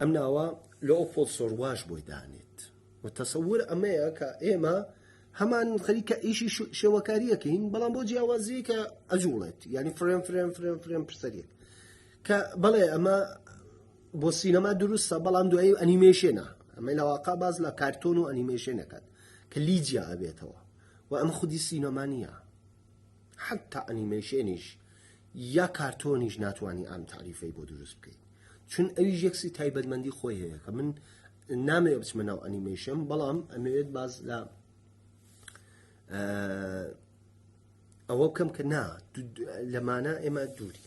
ئەم ناوە لە ئەو فۆڵ سۆرواش بۆی دانێت و تەسەور ئەمەیە کە ئێمە هەمان خەریکە ئیشی شێوەکاریەکەین بەڵام بۆ جیاوازی کە ئەجوڵێت ینی فرێن فرێن فرێن فرێن پرسەرێک کە بەڵێ ئەمە بۆ سینەما دروستە بەڵام دوایی ئەنیمێشێنە ئەمە لەواقع باز لە کارتۆن و ئەنیمێشێنەکەات کە لیجیا ئەبێتەوە و ئەمە خودی سینەمانە حەتا ئەنیمەیشێنیش یا کارتۆنیش ناتوانانی ئەم تاریفەی بۆ دروست بکەیت چون ئەویش یەکسی تایبەتمەندی خۆی هەیە کە من نامەوێت بچمە ناو ئەنیمەیشن بەڵام ئەمەوێت باز لە ئەوە بکەم کە نا لەمانە ئێمە دووری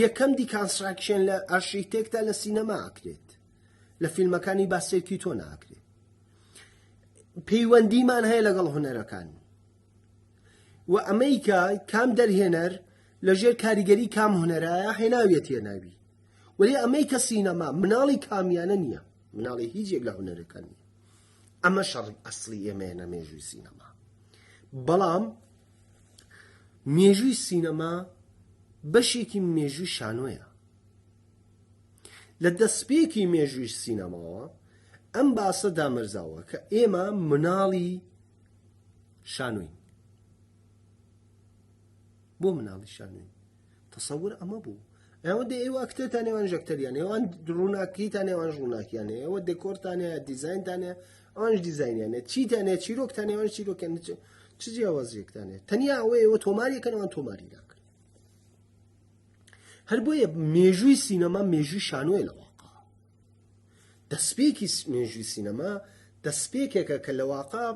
یەکەم دیکانستراکشن لە ئارشیتێکتا لە سینەما ئەکرێت لە فیلمەکانی باسێکی تۆ ناکرێت پەیوەندیمان هەیە لەگەڵ هوەرەکان و ئەمریکا کام دەرهێنەر لەژێر کاریگەری کام هوەرایە هێناویەت هێناوی وەلی ئەمریکا سینەما مناڵی کامیانە نییە مناڵی هیچ یەک لە هوەرەکان نیە ئەمە شەڕی ئەسلی ئێمەیە نە مێژووی سینەما بەڵام مێژووی سینەما بەشێکی مێژووی شانۆیە لە دەستپێکی مێژووی سینەماوە ئەم باسە دامەرزاوە کە ئێمە مناڵی شانۆین بۆ مناڵی شانۆین تەسەور ئەمە بوو ئەوە دێ ئێوە ئەکتێتان نێوان ژەکتەریان ئێوان ڕووناکیتان نێوان ڕووناکیانێ ئەوە دێکۆرتانە دیزایندانە ئەوانش دیزینیانە چیتانێ چیرۆکتان نێوان چیرۆکیان چ جیاوازیەکتانێ تەنیا ئەوە ئێوە تۆماریەکەنەوان تۆماری ناکەن هەر بۆیە مێژووی سینەما مێژووی شانۆی لەواقع دەستپێکی مێژووی سینەما دەستپێکێکە کە لەواقع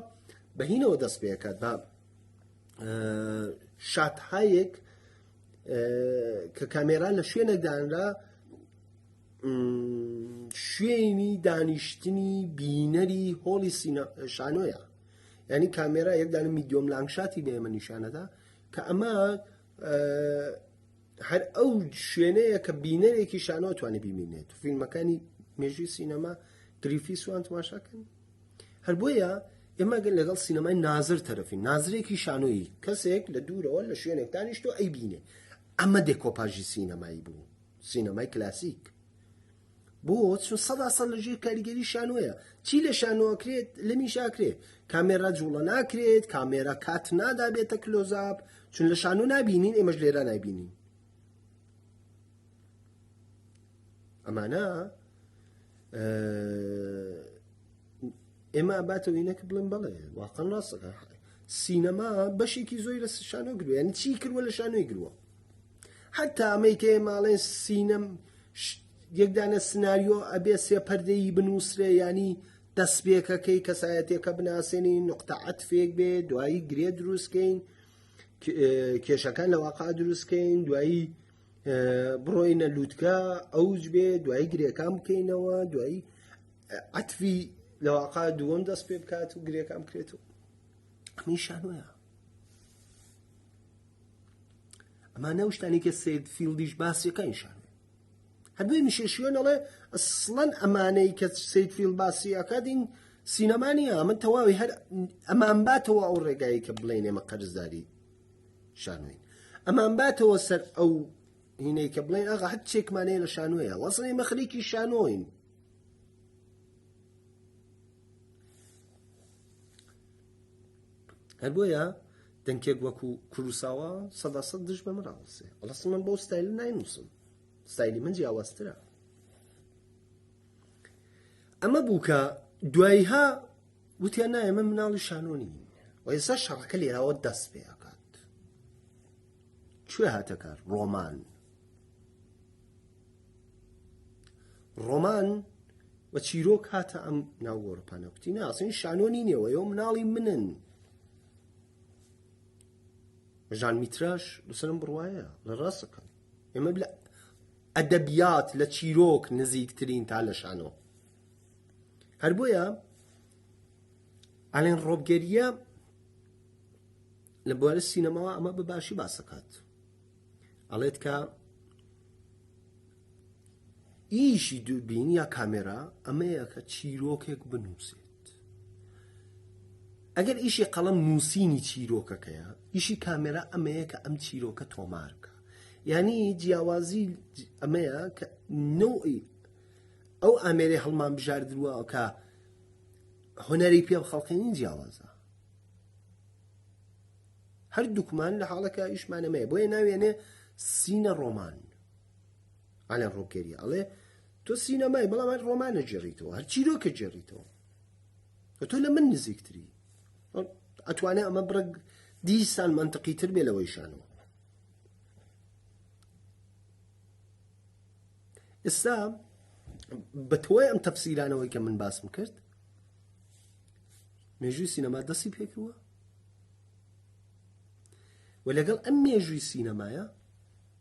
بەهینەوە دەست پێکات بە شاتهایەک کە کامێرا لە شوێنەکدانرا شوێنی دانیشتنی بینەری هۆڵی شانۆیە ینی کامێرا یەکدانە میدیۆم لانگشاتی بە ئێمە نیشانەدا کە ئەمە هەر ئەو شوێنەیە کە بینەرێکی شانۆ توانێت ببینێت فیلمەکانی مێژوی سینەما گریفی سوان تماشاکەن هەر بۆیە ئێمە گەل لەگەڵ سینەمای نازر تەرەفین نازرێکی شانۆیی کەسێک لە دوورەوە لە شوێنێک دانیشتۆ ئەی بینێ ئەمە دێکۆپاژی سینەمایی بوو سینەمای کلاسیک بۆ چون سەدا سەد لە ژێر کاریگەری شانۆیە چی لە شانۆکرێت لە میشاکرێت کامێرا جوڵە ناکرێت کامێرا کات نادابێتە کلۆزاب چون لە شانۆ نبینین ئێمەش لێرا نبینین ئەمانە ئێمە باتەوە ئینەکە بڵێن بڵێ واقع ڕاستەکە سینەما بەشێکی زۆی لە شانۆ گروە یعنی چی کردوە لە شانۆی گروە حتا ئەمەی کە ماڵێ سینەم یەکدانە سناریۆ ئەبێ سێ پەردەی بنووسرێ ینی دەستبێکەکەی کەسایەتەکە بناسێنی نقطە عتفێک بێ دوایی گرێ دروستکەین کێشەکان لە واقع دروستکەین دوایی بڕۆینە لووتکە ئەوج بێ دوایی گرێکان بکەینەوە دوایی عتفی لە واقع دووەم دەست پێ بکات و گرێکان بکرێت و میشانەیە ئەمانە شتانی کە سید فیلدیش باسیەکە نیشان هەدوێ میشێشیۆن ئەڵێ ئەسڵەن ئەمانەی کە سید فیل باسی ئەکاتین سینەما نیە من تەواوی هەر ئەمان باتەوە ئەو ڕێگایی کە بڵێن ئێمە قەرزداری شانوین ئەمان باتەوە سەر ئەو هینەی کە بڵێن ئاغا هەر چێکمانەیە لە شانوەیە وەسڵی مەخریکی شانۆین هەر بۆیە دەنکێک وەکو کوروساوا سەدا سەد دژ بە مراڵسێ بەڵاست من بۆ ستایل ناینووسم ستایلی من جیاوازترە ئەمە بووکە دوایها وتیان نایە من مناڵی شانۆنی و ئێستا شەڕەکە لێراوە دەست پێ ئەکات کوێ هاتەکار ڕۆمان ڕۆمان و چیرۆک هاتە ئەم ناوگۆڕپانە کوتی ناسین شانۆنی نێوەەوە مناڵی منن ژان میتراش لەسەرم بڕواایە لە ڕاستەکان ئێمە لە ئەدەبیات لە چیرۆک نزیکترین تا لە شانەوە هەر بۆیە ئەلێن ڕۆبگەریە لە بوارە سینەماوە ئەمە بە باشی باسەکات ئەڵێت کە ئیشی دووربینی یا کامێرا ئەمەیە کە چیرۆکێک بنووسێت ئەگەر ئیشی قەڵم نووسینی چیرۆکەکەیە ئیشی کامێرا ئەمەیە کە ئەم چیرۆکە تۆمارکە ینی جیاوازی ئەمەیە کە نوعی ئەو ئامێری هەڵمان بژاردرووە کە هۆنەری پێ خەڵقێنین جیاوازە هەر دوکمان لە حاڵەکە ئیشمانەمەیە بۆیە ناوێنێ سینە ڕۆمان ئالان ڕۆکێریە ئەڵێ تۆ سینەمای بەڵام هەر ڕۆمانە جێڕیتەوە هەر چیرۆکە جێڕیتەوە تۆ لە من نزیکتری ئەتوانێت ئەمە بڕ دیسان منتەقی تر بێ لەوەی شانەوە ئێستا بە تۆی ئەم تەفسیرانەوەی کە من باسم کرد مێژووی سینەما دەستی پێکردوە و لەگەڵ ئەم مێژووی سینەمایە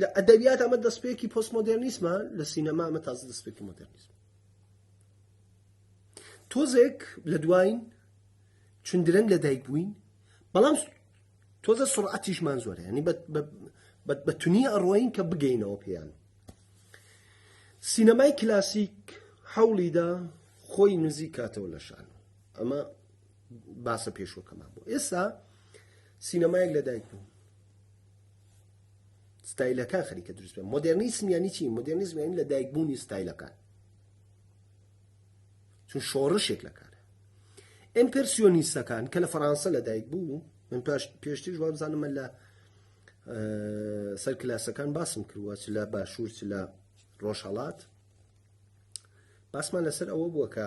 لە ئەدەبیات ئەمە دەستپێکی پۆست مۆدررنیسمە لە سینەما ئەمە تازە دەستپێکی مۆدررنیسم تۆزێک لە دوایین چون درەنگ لە دایک بووین بەڵام تۆزە سڕعاتیشمان زۆرە ینی بە تونی ئەڕۆین کە بگەینەوە پێیان سینەمای کلاسیک حەوڵیدا خۆی نزیک کاتەوە لە شان ئەمە باسە پێشوەکەمان بۆ ئێستا سینەمایەک لە دایک بوو ستایلەکان خەریکە دروست بێ مۆدررنیسم یانی چی مۆدررنیزم یانی لە دایکبوونی ستایلەکان چون شۆڕشێک لە کارە ئەمپرسیۆنیستەکان کە لە فەڕانسە لە دایک بوو من پاش پێشتیش وابزانمە لە سەر کلاسەکان باسم کردوە چ لە باشوور چ لە ڕۆژهڵات باسمان لەسەر ئەوە بووە کە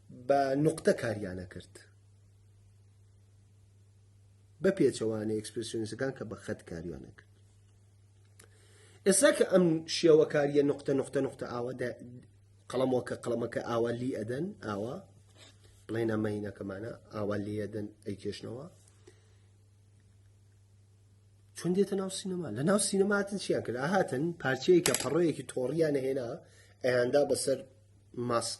بە نوقتە کاریانە کرد بە پێچەوانە ئەکسپرسیۆنیستەکان کە بە خەت کاریانە کرد ئێستا کە ئەم شێوەکاریە نقطە نقطە نقطە ئاوە قەڵەمەکە قەڵەمەکە ئاوا لی ئەدەن ئاوا بڵێنە مەینەکەمانە ئاوا لی ئەدەن ئەی کێشنەوە چون دێتە ناو سینەما لە ناو سینەماتن چیان کرد هاتن پارچەیەکە پەڕۆیەکی تۆڕیان هێنا ئەیاندا بەسەر ماسک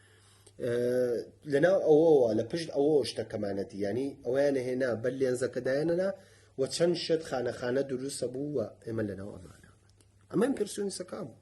لەناو ئەوەوە لە پشت ئەوە شتە کەمانەتی ینی ئەویان هێنا بەر لێنزەکەدایەنەنا و چەند شت خانەخانە دروستە بوو و ئێمە لەناو ئەمانە ئەمەم پرسیۆنی سەکام بوو